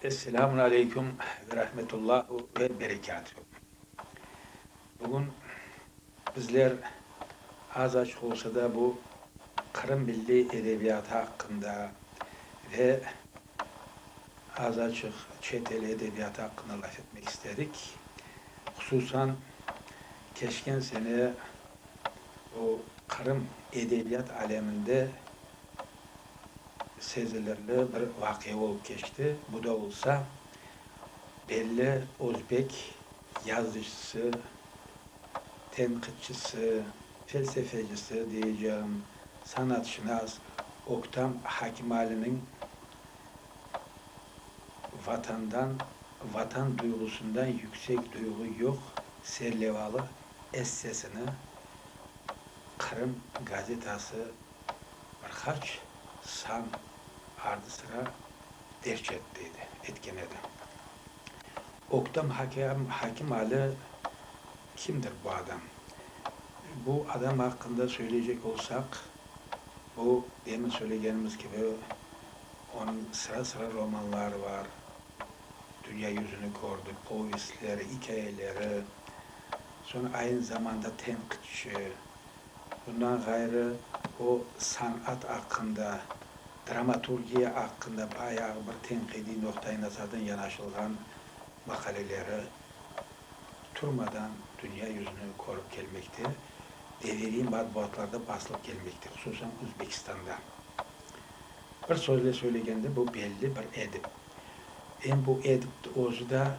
Esselamun aleyküm ve rahmetullahu ve berekâtuhu. Bugün bizler az-açıq olsa da bu Qırım milliy edebiyatı aqqında ve az-açıq çet el edebiyatı aqqında laf etmek istedik. Hususan keçken sene bu Qırım edebiyat aleminde Sezilirli bir vaqia olıp keçti, bu da olsa, belli özbek yazıcısı, tenqitçisi, felsefecisi diyeceğim, sanatşınas Öktem Hakimaliniñ Vatandan, Vatan duyğusından yüksek duyğu yoq serlevalı essesini Qırım gazetası Bir qaç san ardı-sıra derc etti edi, etken edi. Öktem hakem, hakim Ali kimdir bu adam? Bu adam aqqında söyleycek olsaq, bu demin söylegenimiz kibi, onıñ sıra-sıra romanları var, dünya yüzüni kördi, povestleri, ikâyeleri, soñ aynı zamanda tenqitçi, Bundan ğayrı, o, sanat aqqında, dramaturgiya aqqında bayağı bir tenqidiy noqtaiy-nazardan yanaşılğan maqaleleri turmadan dünya yüzüni körip kelmekte, deviriy matbuatlarda basılıp kelmekte, hususan Özbekistanda. Bir sözle söylegende, bu belli bir edip. Em bu edip özü da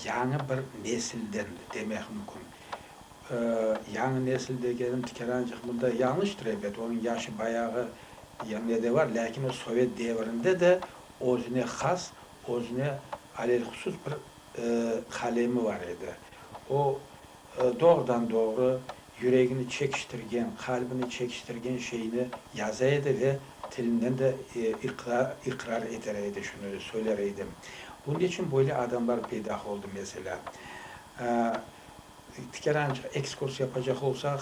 yañı bir nesildendir, demek mümkün. Yañı nesil degenim tikerancıq mında yañlıştır, ebet, onıñ yaşı bayağı yañı de bar, lâkin o sovet devrinde de özüne has, özüne alelhusus bir qalemi bar edi. O, doğrudan-doğru yüregini çekiştirgen, qalbini çekiştirgen şeyni yaza edi ve tilinden de iqrar eter edi, şunı söyler edi. Bunun içün böyle adamlar peyda oldı, meselâ. Bir kere ancaq ekskurs yapacaq olsaq,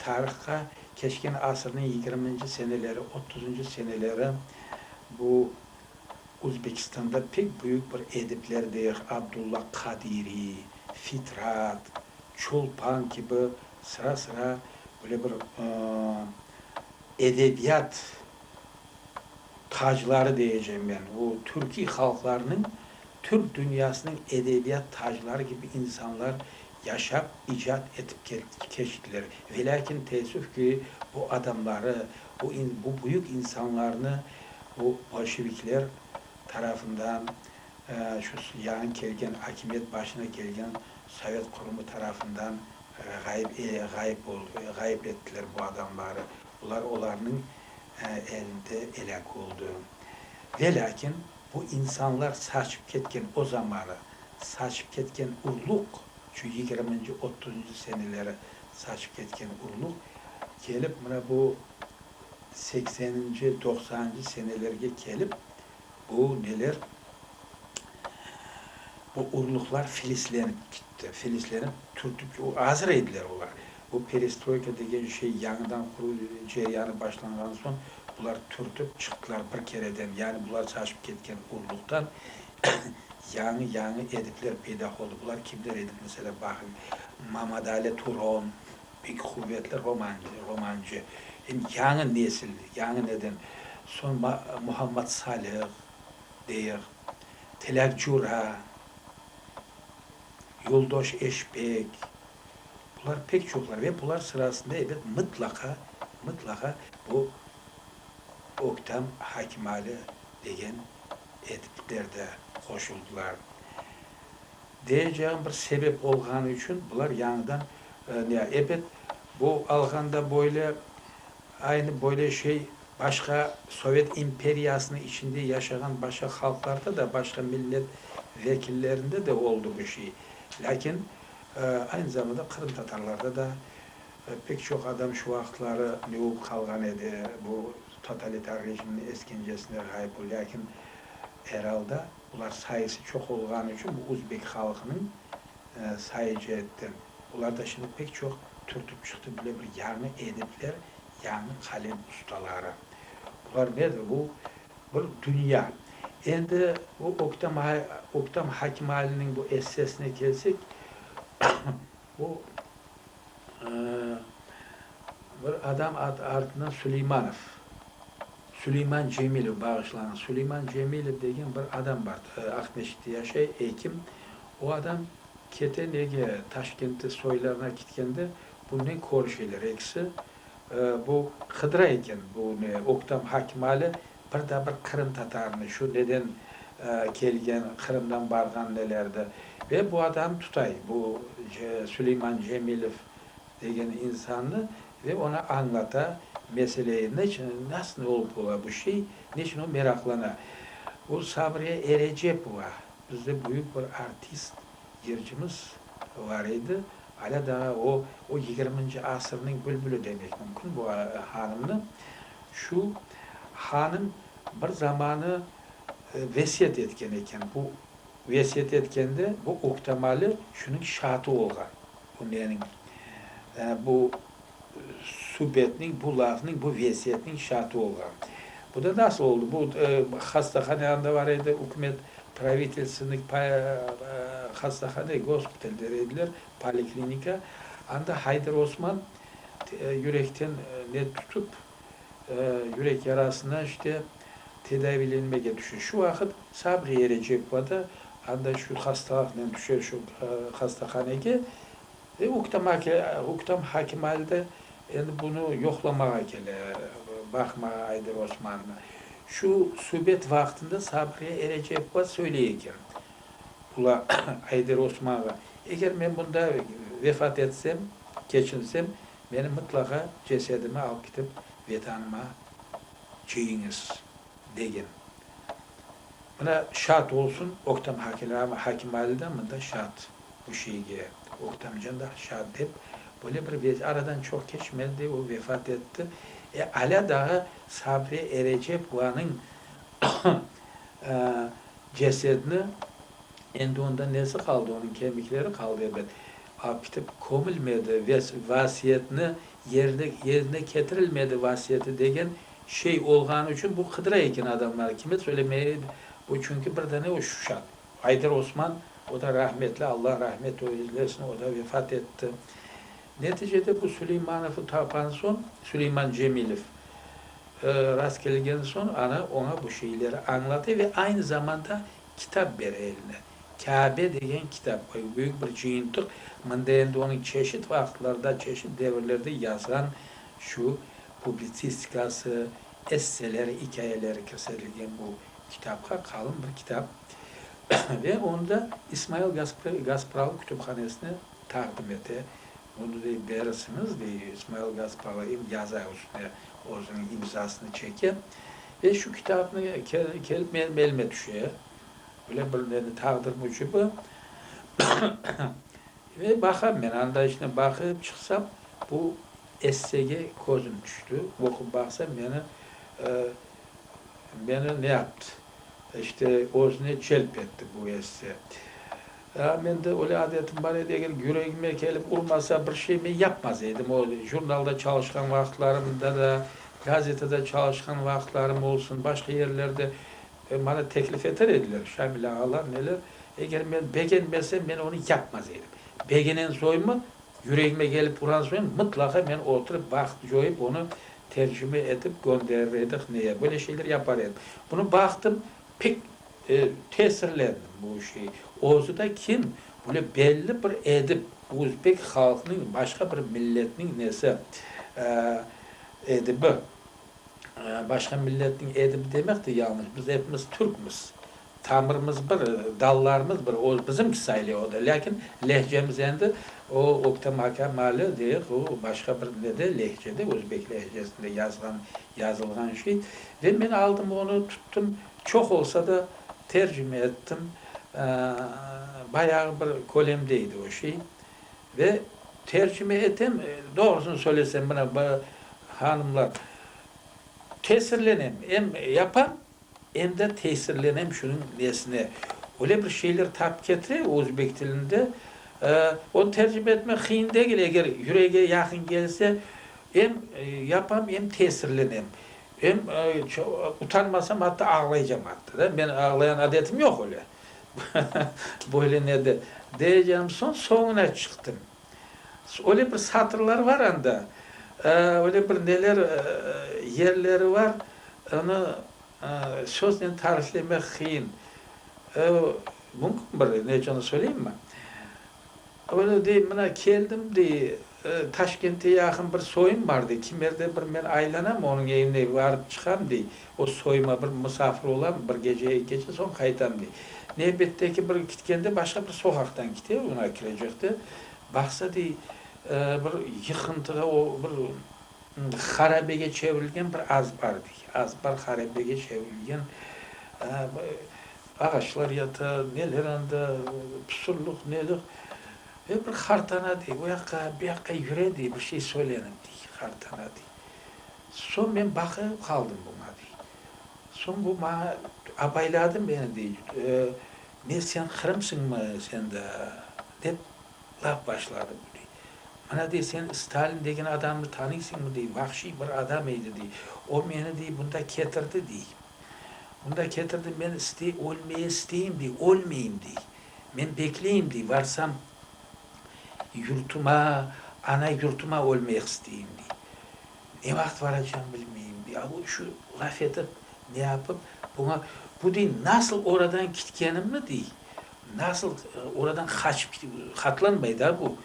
tarihqa keçken asırnıñ yigirminci seneleri, otuzıncı seneleri, bu Özbekistanda pek büyük bir edipler deyıq, Abdulla Qadiriy, Fitrat, Çolpan kibi sıra-sıra böyle bir edebiyat tacları deyecem men, o türkiy halqlarnıñ, türk dünyasınıñ edebiyat tacları kibi insanlar yaşap, icat etip keçtiler. Velâkin, teessüf ki, bu adamları, bu bu büyük insanlarnı bu bolşevikler tarafından, şu yañı kelgen, akimiyet başına kelgen sovet qurumı tarafından ğayıp ğayıp ğayıp ettiler bu adamları. Bular olarnıñ elinde elâk oldı. Ve lâkin bu insanlar saçıp ketken o zamanı, saçıp ketken urluq, şu yigirminci, otuzıncı seneleri saçıp ketken urluq, kelip mına bu sekseninci, doqsanıncı senelerge kelip, bu neler, bu urluqlar filizlenip kitti, filizlenip, türtüp, azır ediler olar. Bu perestroyka degen şey yañıdan quruv ceryanı başlanğan soñ bular türtip çıqtılar bir kereden, yani bular şaşıp ketken quruluqtan yañı yañı edipler peyda oldı. Bular kimler edik? Mesela baqıñ, Mamadali Turon, pek quvetli romancı, romancı, em yañı nesil, yañı neden, soñ Ma Muhammad Salih, deyıq, Tilâk Cura, Yoldoş Eşpek, Bular pek çoqlar ve bular sırasında ebet mıtlaqa, mıtlaqa bu Öktem Hakimali degen etipler de qoşuldılar. Deyecegim bir sebep olğanı içün bular yañıdan ne ebet bu alğanda böyle aynı böyle şey başqa Sovet imperiyasınıñ içinde yaşağan başqa halqlarda da başqa millet vekillerinde de oldı bu şey. Lâkin Aynı zamanda qırımtatarlarda da pek çoq adam şu vaqıtları lüup qalğan edi, bu totalitar rejimniñ eskencesinde ğayıp oldı, lâkin er alda bular sayısı çoq olğanı içün bu uzbek halqınıñ sayıcı etti. Bular da şimdi pek çoq türtüp çıqtı, böyle bir yañı edipler, yañı qalem ustaları. Bular nedir? Bu Bir dünya. Endi bu öktem öktem Hakimali'niñ bu essesine kelsek, bu bir adam adı artından Suleymanov, Suleyman Cemilev, bağışlañız, Suleyman Cemilev degen bir adam bar, Aqmescitte yaşay, ekim. O adam kete nege Taşkentte soylarına kitkende, bunnen körüşeler ekisi. Bu Hıdra eken, bu ne, öktem Hakimali bir da bir Qırım Tatarını, şu neden kelgen, Qırımdan barğan nelerdi. Ve bu adam tutay, bu Süleyman Cemilev degen insannı ve oña añlata meseleyi, neçün, nasıl olıp ola bu şey, neçün o meraqlana. Bu Savriye Erecepova, bizde büyük bir artist, yırcımız. Bar edi. Alâ daa o, o yigirminci asırnıñ bülbüli demek mümkün bu hanımnı. Şu hanım bir zamanı vesiyet etken eken. Bu vesiyet etkende bu uhtemali şunıñ şaatı olğan. Bu meniñ, yani bu. subetniñ, bu lafnıñ, bu vesiyetniñ şaatı olğan. Bu da nasıl oldı? Bu hastahane anda bar edi, ükümet pravitelstvenıy hastahane, gospital der ediler, poliklinika. Anda Hayder Osman yürekten ne tutıp, yürek yarasına işte tedaviylenmege tüşe. Şu vaqıt Sabriye Recebova da anda şu hastalaqnen tüşe şu hastahanege, E, uktam ake, uktam hakim alde, endi bunı yoqlamağa kele, baqma, Ayder Osman. Şu subet vaqtında Sabriye Erecepova söyley eken bula, Ayder Osmanğa, eger men bunda vefat etsem, keçinsem, menim mıtlaqa cesedimi alıp kitip, vetanıma çeyiñiz. degen. Mına, şaat olsun, Öktem Hakimali da mında şaat bu şeyge, Öktemcan da şaat dep, böyle bir vezi, aradan çoq keçmedi, o vefat etti. E, alâ dağı Sabri Erecepovanıñ cesedini, endi onda nesi qaldı, onıñ kemikleri qaldı, elbet, alıp ketip kömülmedi, vasiyetini, yerine ketirilmedi vasiyeti degen Şey olğanı içün bu qıdıra eken adamları, kime söylemeye edi? Bu çünki bir dane o Şuşat. Aydır Osman, o da rahmetli, Allah rahmet eylesin, o da vefat etti. Neticede bu Suleymanovı tapan soñ, Suleyman Cemilev, rast kelgen soñ ana oña bu şeyleri añlatı ve aynı zamanda kitap bere eline. Kâbe degen kitap, büyük bir cıyıntıq, mında endi onıñ çeşit vaqıtlarda, çeşit devirlerde yazğan şu publitsistikası, esseler, ikâyeleri kirsetilgen bu kitapqa, qalın bir kitap, ve onı da İsmail Gaspralı kütüphanesine taqdim ete. Bunı dey, berisiñiz, dey, İsmail Gaspralı em yaza üstüne özüniñ imzasını çeke. Ve şu kitapnı kelip menim elime tüşe. Böyle bir meni taqdir mücibi Ve baqam men, anda içine baqıp çıqsam, bu essege közüm tüşti, oqup baqsam, meni, meni ne yaptı, işte, özüne celp etti bu esse. A mende öyle adetim bar edi, eger yüregime kelip urmasa bir şey, men yapmaz edim, o jurnalda çalışqan vaqıtlarımda da, gazetede çalışqan vaqıtlarım olsun, başqa yerlerde, Ve maña teklif eter ediler, Şamil ağalar neler, eger men begenmesem, men onı yapmaz edim. Begenensoñmı, yüregime kelip uran soñ, mıtlaqa men oturıp vaqıt coyıp, onı tercime etip gönderir edik, ne ya böyle şeyler yapar edim. Bunı baqtım, pek tesirlendim bu şey. Özü de kim? Böyle belli bir edip, özbek halqınıñ başqa bir milletniñ nesi, edibi. Başqa milletniñ edibi demek de yañlış. Biz epimiz türkmiz. Tamırımız bir, dallarımız bir. O bizimki sayle o da. Lâkin lehcemiz endi o öktem aka mali diyek, o başqa bir ne de lehce de, özbek lehcesinde yazğan, yazılğan şey. Ve men aldım onı, tuttum, çoq olsa da tercime ettim. Bayağı bir kölemde edi o şey. Ve tercüme etem, doğrusını söylesem, mına bu hanımlar, tesirlenem, em yapam, em de tesirlenem şunıñ nesine. Öyle bir şeyler tapıp ketire özbek tilinde, onı tercüme etmek qıyın degil, eger yürege yaqın kelse, em yapam, em tesirlenem, em utanmasam, atta ağlaycam, atta da. Menim ağlayan adetim yoq öyle, Böyle ne de, deycem, soñ soñuna çıqtım. Öyle bir satırlar var anda, öyle bir neler, yerleri var, onı söznen tariflemek qıyın. Mümkün bir neçe onı söyleyim mi? Onı, dey, mına keldim, dey, Taşkente yaqın bir soyum bar, dey, kimerde bir men aylanam, onıñ evine barıp çıqam, dey, o soyuma bir musafir olam, bir gece, eki gece, soñ qaytam, dey. Nevbetteki bir kitkende başqa bir soqaqtan kite, mına kirecekte, baqsa, dey, bir yıqıntığa, o bir harabege çevirilgen bir azbar, dey, azbar harabege çevirilgen. Ağaçlar yata, neler anda, püsürlik, nelik. Ve bir hartana dey, o yaqqa, bu yaqqa yüre dey, bir şey söylenim dey, hartana dey. Soñ men baqıp qaldım buña dey. Soñ bu maña abayladı meni dey, ne sen qırımsıñmı sen de, dep laf başladı bu dey. Mına dey, sen Stalin degen adamnı tanıysıñmı dey, vahşiy bir adam eydi dey. O meni dey, bunda ketirdi dey. Unda ketirdi, men istey, ölmeye isteyim, dey, ölmeyim, dey. Men bekleyim, dey, varsam yurtıma, ana yurtıma ölmek isteyim, dey. Ne vaqıt varacağım bilmeyim, dey. A bu şu laf etip, ne yapıp, buña, bu, dey, nasıl oradan kitkenimni, dey, Nasıl oradan qaçıp ketip, hatlanmay da bu.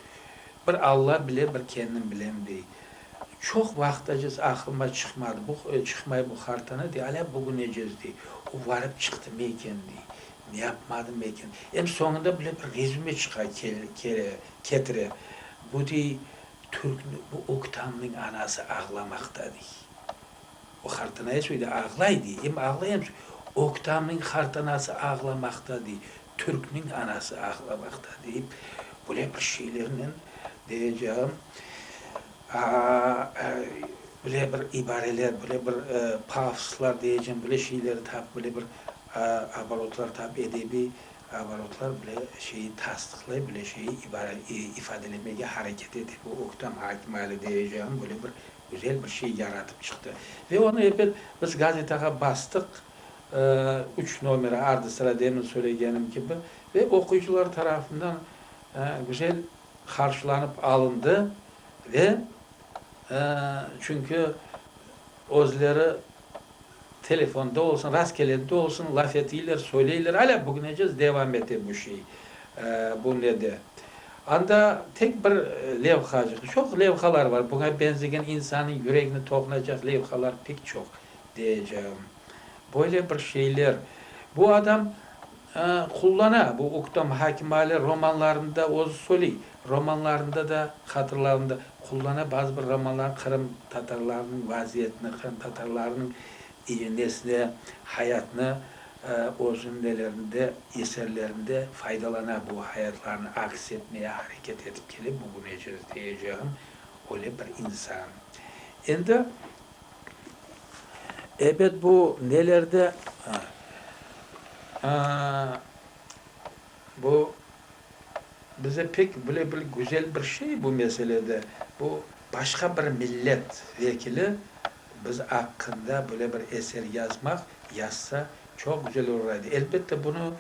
Bir Alla bile, bir kendim bilem, dey. Çoq vaqıt ecez aqılıma çıqmadı bu, çıqmay bu hartanı, dey, alâ bugün ecez, dey, o varıp çıqtımı eken, dey, ne yapmadımı eken. Em soñunda bile bir rezüme çıqa kele, ketire. Bu, dey, Türkni, bu Öktamnıñ anası ağlamaqta, dey. O hartanaya şöyle ağlay, dey, em ağlay em şöyle, Oktamniñ hartanası ağlamaqta, dey, Türkniñ anası ağlamaqta, deyip, böyle bir şeylernen, deyeceğim, böyle bir ibareler, böyle bir pafoslar, deyeceğim, böyle şeyler tap, böyle bir abarotlar tap, edebiy abarotlar böyle şeyi tasdıqlay, böyle şeyi ifadelemege hareket ete bu Oktam Akimali, deyeceğim, böyle bir Güzel bir şey yaratıp çıqtı. Ve onı epet biz gazetağa bastıq, üç nomeri ardı-sıra demin söylegenim kibi, ve oquyıcılar tarafından güzel qarşılanıp alındı. Ve çünki özleri. Telefonda olsun, rastkelede de olsun laf etiyler, söyleyler, alâ bugünecez devam ete bu şey, bu nede. Anda tek bir levhacıq, çoq levhalar bar, buña benzegen insanıñ yüregini toqunacaq levhalar pek çoq, deyecegim. Böyle bir şeyler. Bu adam. qullana. Bu uktam Hakim Ali romanlarında özü söyley, romanlarında da, hatırlarında qullana. Bazı bir romanlarında Qırım tatarlarınıñ vaziyetini, Qırım tatarlarınıñ nesini, hayatını özüniñ nelerinde, eserlerinde faydalana. Bu hayatlarını aks etmeye hareket etip kele bugünece, diyecegim, öyle bir insan. Endi. Ebet bu nelerde bu bize pek bile bir güzel bir şey bu meselede bu başqa bir millet vekili biz aqqında böyle bir eser yazmaq yazsa çoq güzel olur edi elbette bunu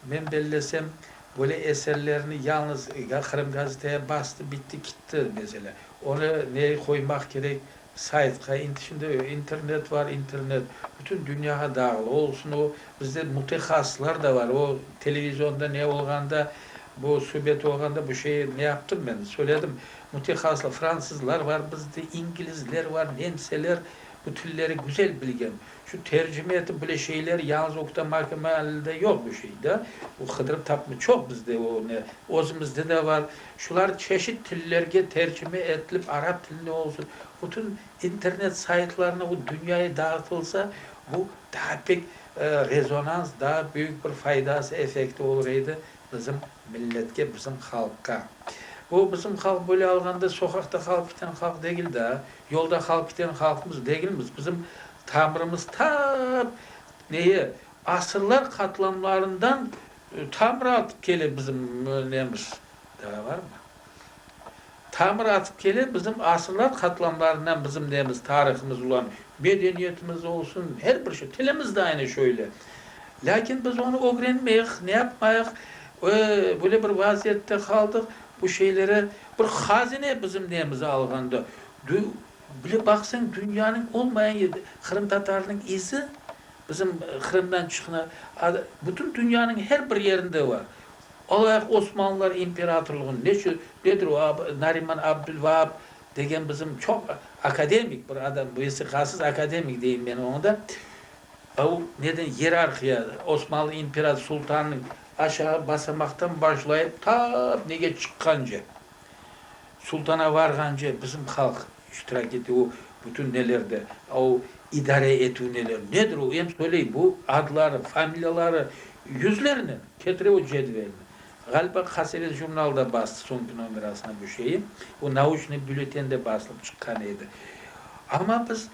men bellesem böyle eserlerni yalnız Qırım gazeteye bastı bitti kitti mesele onı ne qoymaq kerek Saytqa, indi şimdi internet bar, internet bütün dünyağa dağılı olsun, o bizde mütehasıslar da bar, o televizionda ne olğanda, bu subet olğanda bu şey ne yaptım men, söyledim, mütehasıslar, fransızlar bar bizde, ingilizler bar, nemseler, bu tilleri güzel bilgen, Şu tercime etip bile şeyler yalıñız okuta makeme alinde yoq bu şey da. O qıdırıp tapma çoq bizde o ne özümizde de bar. Şular çeşit tillerge tercime etilip arap tilinde olsun bütün internet saytlarına o dünyaya dağıtılsa bu daa pek rezonans daa büyük bir faydası efekti olur edi. Bizim milletke, bizim halqqa. O, bizim halq, böyle alğanda, soqaqta qalıp kiten halq degil daa, yolda qalıp kiten halqmız degilmiz. Bizim tamırımız ta neye, asırlar qatlamlarından tamır atıp kele bizim nemiz. Daa barmı? Tamır atıp kele bizim asırlar qatlamlarından bizim nemiz, tarihımız ulan medeniyetimiz olsun, her bir şey, tilimiz de aynı şöyle. Lâkin biz onı ögrenmeyik, ne yapmayıq, ve böyle bir vaziyette qaldıq, bu şeylere bir hazine bizim nemiz alğanda, dü, bile baqsañ dünyanıñ olmayan yerde qırımtatarnıñ izi bizim Qırımdan çıqna, a, bütün dünyanıñ her bir yerinde var. Alayıq, Osmanlılar imperatorlığın neçü nedir o Nariman Abdülvaab degen bizim çoq akademik bir adam, vesiqasız akademik deyim men oña da, o neden iyerarhiya, Osmanlı imperator sultanınıñ aşağı basamaqtan başlayıp ta nege çıqqance, sultana varğance bizim halq İştirak etüv o bütün nelerde, a o idare etüv neler, nedir o, em söyley, bu adları, familiyaları yüzlernen, ketire o cedvelni. Ğaliba Qasevet jurnalı da bastı, soñki nomerasına bu şeyi, o Nauçnıy byülleten de basılıp çıqqan edi. Amma biz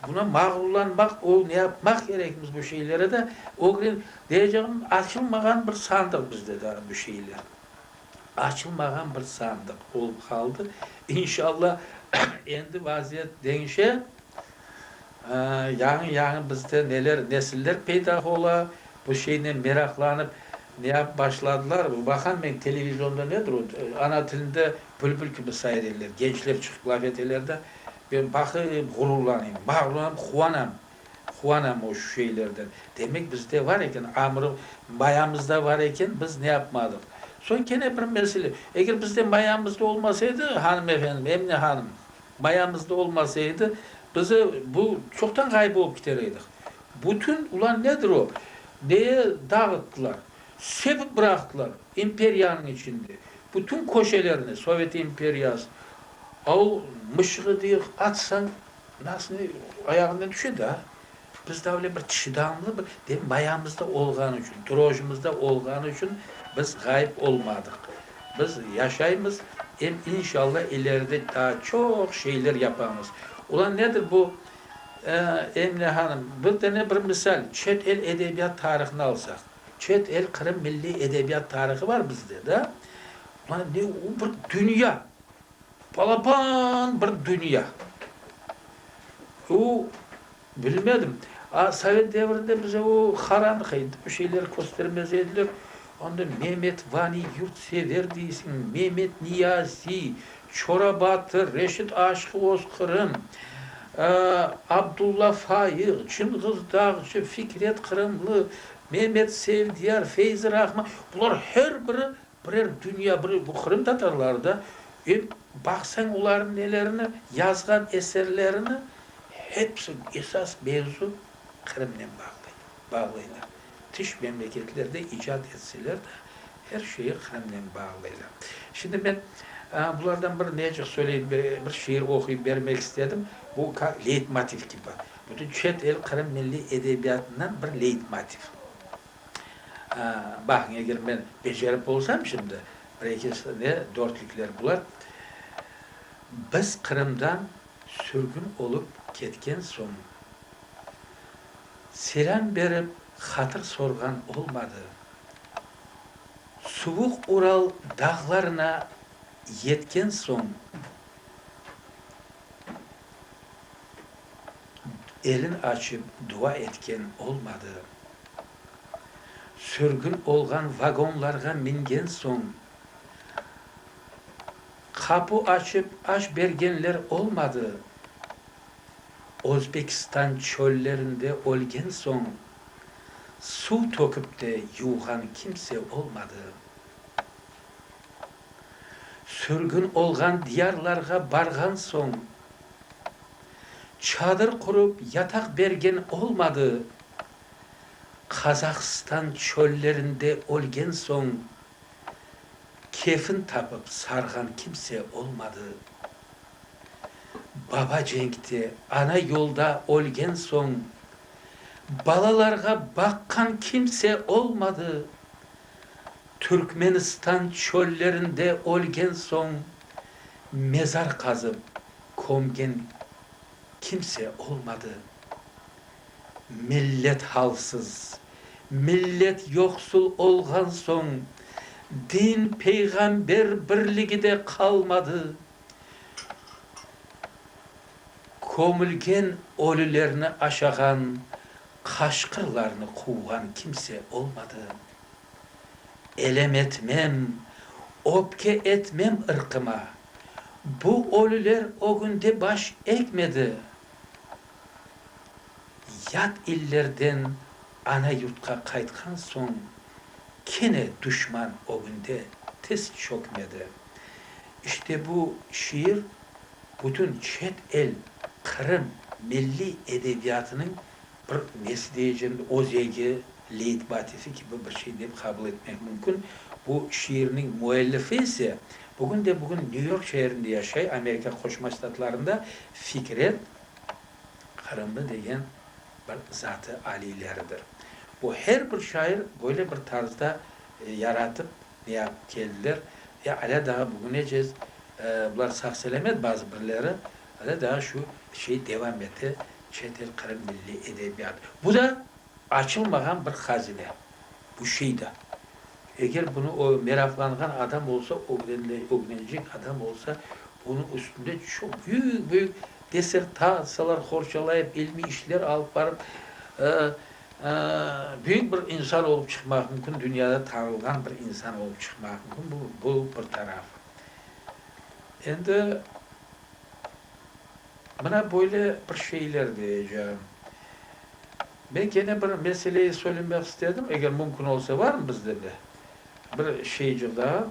buna mağrurlanmaq, o ne yapmaq kerekmiz bu şeylere de, ögren, deyecağım, açılmağan bir sandıq bizde daa bu şeyler. açılmağan bir sandıq olıp qaldı. İnşalla, endi vaziyet deñişe, yañı-yañı bizde neler, nesiller peyda ola, bu şeynen meraqlanıp ne yapıp başladılar, baqam men televizionda nedir o, ana tilinde bülbül kibi sayreler, gençler çıqıp laf eteler de, ben baqıp ğururlanayım, mağrurlanıp quvanam. Huana moş şeylerden. Demek, bizde bar eken, amırı mayamızda bar eken, biz ne yapmadıq? Soñ kene bir mesele, eger bizde mayamızda olmasa edi, hanım efendim, Emine hanım, mayamızda olmasa edi, biz bu çoqtan ğayıp olıp kiter edik. Bütün, ulan nedir o, neye dağıttılar, sepip bıraqtılar imperiyanıñ içinde, bütün köşelerni, sovet imperiyası, o mışığı, deyik, atsañ, Nasıl ayağından tüşe daa, biz daa öyle bir çıdamlı bir, demek mayamızda olğanı içün, drojımızda olğanı içün biz ğayıp olmadıq. Biz yaşaymız, em inşallah ileride daa çoq şeyler yapamız. Ula nedir bu, Emine hanım, bir dene bir misal, çet el edebiyat tarihını alsaq, çet el Qırım milliy edebiyat tarihı bar bizde, da? Ula ne, o bir dünya! Balaban bir dünya. O, bilmedim. A, sovet devrinde bize o haramqa edi, bir şeyler köstermez ediler. Onda Memet Vani Yurtsever deysiñ, Memet Niyazi, Çora Batır, Reşit Aşıqı Oz Qırım, Abdulla Fayıq, Çınğız Dağcı, Fikret Qırımlı, Memet Sevdiyar, Feyzi Rahman, bular her biri, Birer dünya bir bu qırımtatarlar da, em baqsañ olarnıñ nelerini, yazğan eserlerini, hepsi esas mevzu Qırımnen bağlı, bağlaylar. Tış memleketlerde icat etseler de, her şeyi Qırımnen bağlaylar. Şimdi men bulardan bir necik söyleyip, bir şiir oquyıp bermek istedim, bu leytmotiv kibi, bütün çet el Qırım milliy edebiyatından bir leytmotiv. Baqıñ, eger men becerip bolsam şimdi, bir-eki sene dörtlükler bular. Biz Qırımdan sürgün olıp ketken soñ, selâm berip, hatır sorğan olmadı. Suvuq Ural dağlarına yetken soñ, elin açıp dua etken olmadı. Sürgün olğan vagonlarğa mingen soñ, qapu açıp aş bergenler olmadı. Özbekistan çöllerinde ölgen soñ, suv tökip de yuvğan kimse olmadı. Sürgün olğan diyarlarğa barğan soñ, çadır qurıp yataq bergen olmadı. Qazahstan çöllerinde ölgen soñ, kefin tapıp sarğan kimse olmadı. Baba cenkte, ana yolda ölgen soñ, balalarğa baqqan kimse olmadı. Türkmenistan çöllerinde ölgen soñ mezar qazıp kömgen kimse olmadı. Millet halsız, millet yoqsul olğan soñ din, peyğamber birligi de qalmadı. Kömülgen ölülerni aşağan, qaşqırlarnı quvğan kimse olmadı. Elem etmem, öpke etmem ırqıma. Bu ölüler ögünde baş egmedi. Yat illerden ana yurtqa qaytqan soñ kene duşman ögünde tiz çökmedi. İşte bu şiir bütün çet el Qırım milliy edebiyatınıñ Bir nesli ecin öz ege leytbatifi kibi bir şey dep qabıl etmek mümkün. Bu şiirniñ müellifi ise bugün de bugün Nyu York şeerinde yaşay, Amerika Qoşma Ştatlarında Fikret Qırımlı degen bir zat-ı aliyleridir. Bu her bir şair böyle bir tarzda yaratıp neyapıp keldiler ve alâ daa bugünecez, bular sağ-selamet bazı birleri, alâ daa şu şey devam ete Çet el Qırım milliy edebiyatı, bu da açılmağan bir hazine, bu şey da. Eger bunı o meraqlanğan adam olsa, ögrenecek adam olsa, bunıñ üstünde çoq büyük-büyük dissertatsiyalar qorçalayıp, ilmiy işler alıp barıp, büyük bir insan olıp çıqmaq mümkün, dünyada tanılğan bir insan olıp çıqmaq mümkün, bu, bu bir tarafı. Endi. Mına böyle bir şeyler diyeceğim. Ben kene bir meseleyi söylemek istedim, eger mümkün olsa, varmı bizde bir bir şeycik daa?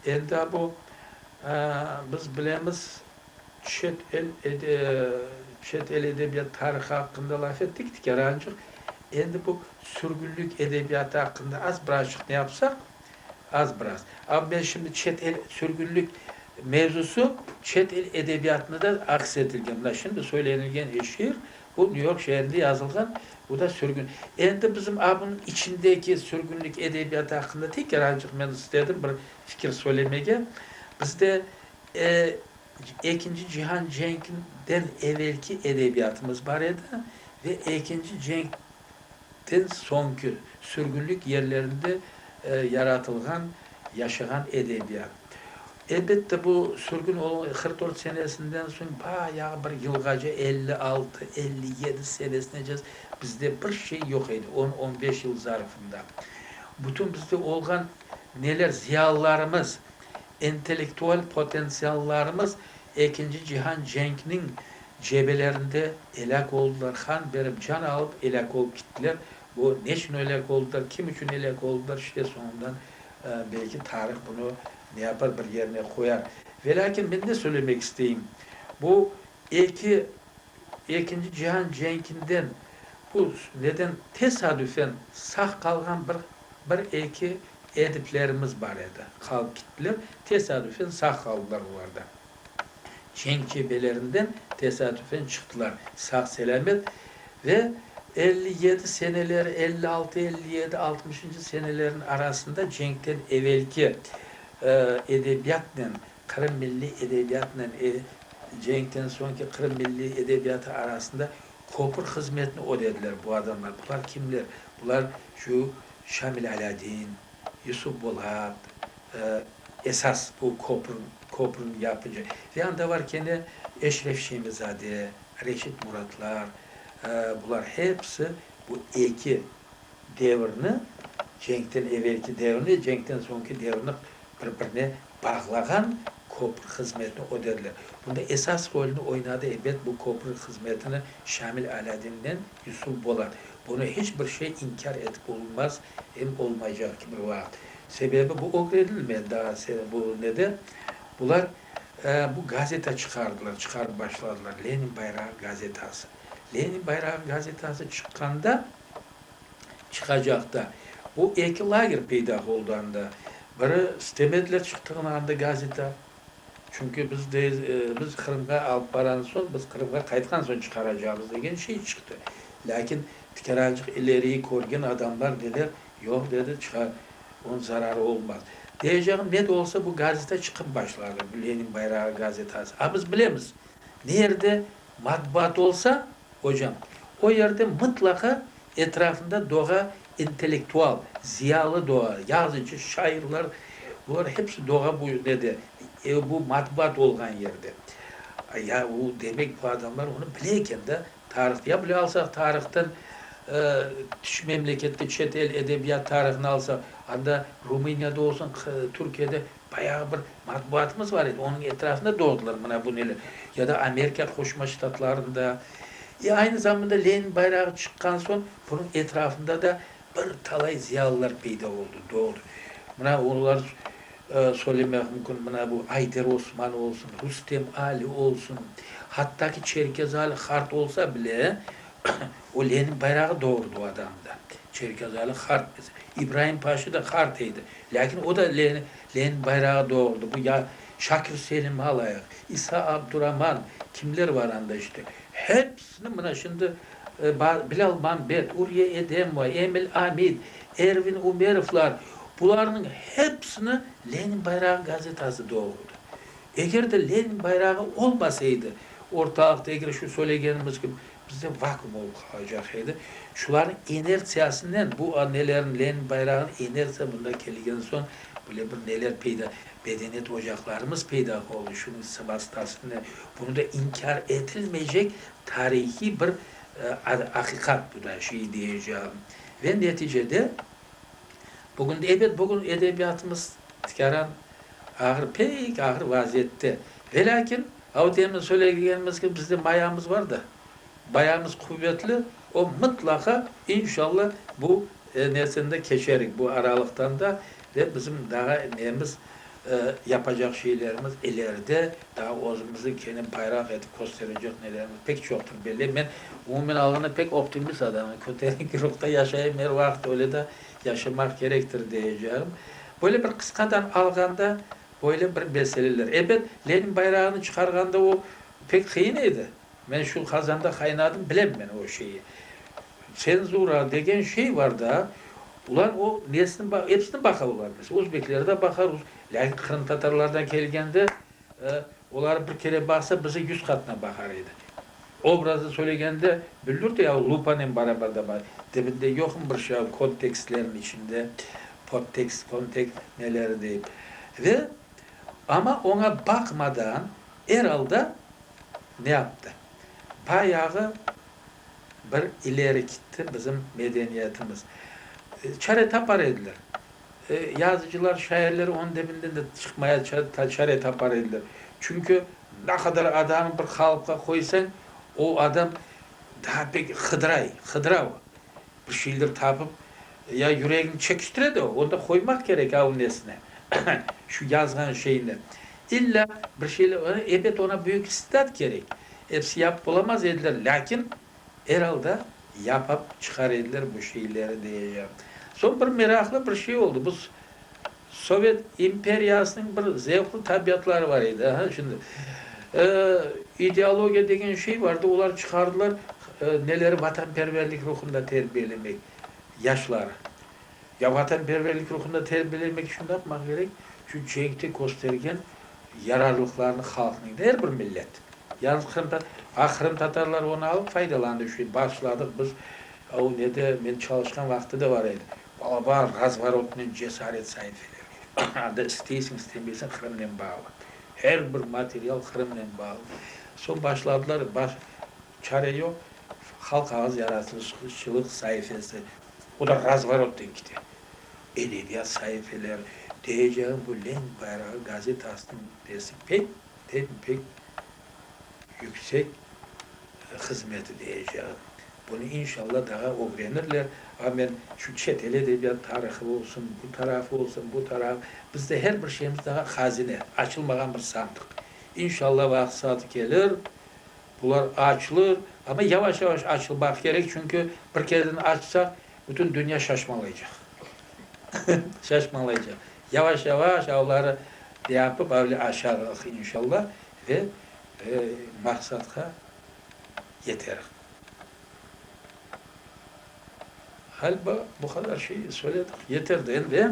Endi a bu, biz bilemiz, çet el çet el edebiyat tarihı aqqında laf ettik, tikerancıq, endi bu sürgünlik edebiyatı aqqında az birazcıq ne yapsaq? Az biraz. Amma men şimdi çet el sürgünlik mevzusı çet el edebiyatında da aks etilgen. Mına şimdi söylenilgen eşir, bu Nyu York şeerinde yazılğan, bu da sürgün. Endi bizim a bunıñ içindeki sürgünlik edebiyatı aqqında teker azıcıq men istedim bir fikir söylemege. Bizde e Ekinci cihan cenkinden evelki edebiyatımız bar edi ve Ekinci cenk Den soñki sürgünlik yerlerinde yaratılğan, yaşağan edebiyat. Elbette, bu sürgün olğan qırq dört senesinden soñ bayağı bir yılğaca, elli altı, elli yedi senesine bizde bir şey yoq edi, on, on beş yıl zarfında. Bütün bizde olğan neler, ziyalılarımız. İntellektual potentsiallarımız Ekinci cihan cenkniñ cebelerinde elâk oldılar, han berip can alıp elâk olıp kittiler. Bu neçün elâk oldılar, kim içün elâk oldılar, işte soñundan belki tarih bunı ne yapar, bir yerine qoyar. Velâkin men ne söylemek isteyim, bu eki Ekinci cihan cenkinden bu neden tesadüfen sağ qalğan bir bir eki ediplerimiz bar edi. Qalıp gittiler, tesadüfen sağ qaldılar olar da. Cenk cebelerinden tesadüfen çıqtılar sağ selâmet ve elli yedi seneleri, elli altı, elli yedi, altmışıncı senelerin arasında cenkten evelki edebiyatnen Qırım milliy edebiyatnen e, cenkten soñki Qırım milliy edebiyatı arasında köpür hızmetini ödediler bu adamlar. Bular kimler? Bular şu Şamil Alâdin, Yusuf Bolat, e, esas bu köpür, köpürni yapıcı. Ve anda var kene Eşref Şemizade, Reşit Muratlar, e, bular hepsi bu eki devirni, cenkten evelki devirni, cenkten soñki devirni bir-birine bağlağan köprü hızmetini ödediler. Bunda esas rolni oynadı, ebet, bu köprü hızmetini Şamil Alâdin'nen Yusuf Bolat. Bunı hiç bir şey inkâr etip olunmaz, em olmaycaq ki bir vaqıt. Sebebi bu ögrenilmedi daa bu nede, bular bu gazeta çıqardılar, çıqarıp başladılar, Lenin bayrağı gazetası. Lenin bayrağı gazetası çıqqanda çıqacaq da. Bu eki lager peyda oldı anda. Biri stemetler çıqtığını andı gazeta. Çünki biz de, biz Qırımğa alıp baran soñ, biz Qırımğa qaytqan soñ çıqaracağımız degen şey çıqtı. Lâkin tikerancıq ileriyi körgen adamlar dediler, yoq dedi, çıqar, onıñ zararı olmaz. Deyeceğim, ne de olsa bu gazeta çıqıp başladı, bu Lenin bayrağı gazetası. A biz bilemiz, nerde Matbuat olsa, ocam, o yerde mıtlaqa etrafında doğa intellektual, ziyalı doğa, yazıcı, şairler, bular hepsi doğa bu ne de, e, bu matbuat olğan yerde. Ya o demek bu adamlar onı bile eken da, tarih, ya bile alsaq tarihten, e, tış memlekette, çet el edebiyat tarihini alsaq, anda Rumıniyada olsun, Qı, Türkiyede Bayağı bir matbuatımız bar edi, onıñ etrafında doğdılar mına bu neler. Ya da Amerika Qoşma Ştatlarında. E, aynı zamanda Lenin bayrağı çıqqan soñ bunıñ etrafında da bir talay ziyalılar peyda oldı, doğdı. Mına olar söylemek mümkün, mına bu Ayder Osman olsun, Rustem Ali olsun, hatta ki Çerkez Ali Hart olsa bile, o Lenin bayrağı doğurdı o adamda. Çerkez Ali Hart, İbrahim Paşa da Hart edi. Lâkin o da Lenin bayrağı doğurdı. Bu ya Şakir Selim alayıq, İsa Abduraman, kimler bar anda işte. Hepsini mına şimdi Bilâl Mambet, Uriye Edemova, Emil Amid, Ervin Umerovlar, bularnıñ hepsini Lenin bayrağı gazetası doğurdı. Eger de Lenin bayrağı olmasa edi ortalıqta, eger şu söylegenimiz kibi Bizde vakuum olıp qalacaq edi. Şularnıñ inertsiyasınen, bu nelerniñ, Lenin bayrağınıñ inertsiya mında kelgen soñ böyle bir neler peyda, medeniyet ocaqlarımız peyda oldı, şunıñ vastasınen. Bunı da inkâr etilmeycek tarihiy bir aqiqat bu da, şey diyeceğim. Ve neticede. Bugün, ebet, bugün edebiyatımız tikaran ağır, pek ağır vaziyette. Ve lâkin, o demin söylegenimiz kibi, bizde mayamız bar da, mayamız quvetli, o mıtlaqa, inşalla, bu nerseni de keçerik, bu aralıqtan da, ve bizim daa nemiz, Yapacaq şeylerimiz ileride, daa özümüzni kene bayraq etip kösterecek nelerimiz pek çoqtır, belle. Men, umumen alğanda, pek optimist adamım, köterenki ruhta yaşayım, er vaqıt öyle de yaşamaq kerektir deyeceğim. Böyle bir qısqadan alğanda, böyle bir meseleler. Ebet, Lenin bayrağını çıqarğanda o pek qıyın edi. Men şu qazanda qaynadım, bilem men o şeyi. Tsenzura degen şey var da, ular o nesini ba, episini baqalı var. Mes, özbekleri de baqa, rus, lâkin qırımtatarlardan kelgende, e, oları bir kere baqsa, bizi yüz qatına baqar edi. Obrazı söylegende, büldür de, yahu lupanen barabar da ba, dibinde yoqmı bir şey, kontekstlerniñ içinde, podtekst, kontekst, neleri deyip. Ve, amma oña baqmadan, Er alda, ne yaptı? Bayağı bir ileri kitti bizim medeniyetimiz. Çare tapar ediler. Yazıcılar, şairler onıñ debinden de çıqmaya çare tapar ediler. Çünki ne qadar adamı bir qalıpqa qoysañ, o adam daa pek hıdıray, hıdıra o. Bir şeyler tapıp, ya yüregiñ çekiştire de, onda qoymaq kerek avnesine, şu yazğan şeyni. İlla bir şeyler, ebet oña büyük istidat kerek. Episi yapıp olamaz ediler, lâkin, er alda, yapıp çıqar ediler bu şeyleri, dey. Soñ bir meraqlı bir şey oldı, bu Sovet imperiyasınıñ bir zevqli tabiatları bar edi. Ha, şimdi, e, ideologiya degen şey vardı, olar çıqardılar, e, neleri vatanperverlik ruhunda terbiyelemek, yaşları. Ya vatanperverlik ruhunda terbiyelemek içün ne yapmaq kerek? Şu cenkte köstergen yararlıqlarını halqnıñ, er bir millet, yalnız qırım ta, a qırımtatarlar onı alıp faydalandı, şu, bağışladıq biz, o, ne de, men çalışqan vaqıtı da bar edi, Balabar, razvorodnıy cesaret saifeleri. Anda isteysiñ, istemeysiñ, Qırımnen bağlı. Her bir material Qırımnen bağlı. Soñ başladılar, çare yoq, halq ağız yaratılışçılıq saifesi, o da razvorodnen kite. Edebiyat saifeleri, diyeceğim, bu lenk bayrağı gazetasınıñ nesi pek, pek, pek. yüksek hızmeti diyeceğim. Bunı inşalla daha ögrenirler. A men şu çet el edebiyat tarihı olsun, bu tarafı olsun, bu tarafı, bizde her bir şeyimiz daha hazine, açılmağan bir sandıq. İnşalla vaqıt saatı kelir, bular açılır, amma yavaş-yavaş açılmaq kerek, çünki bir kerden açsaq, bütün dünya şaşmalaycaq. Şaşmalaycaq. Yavaş-yavaş avları yapıp, avle aşarıq inşalla. Ve maqsatqa yeterik. Ğaliba bu qadar şey söyledik, yeterdi endi.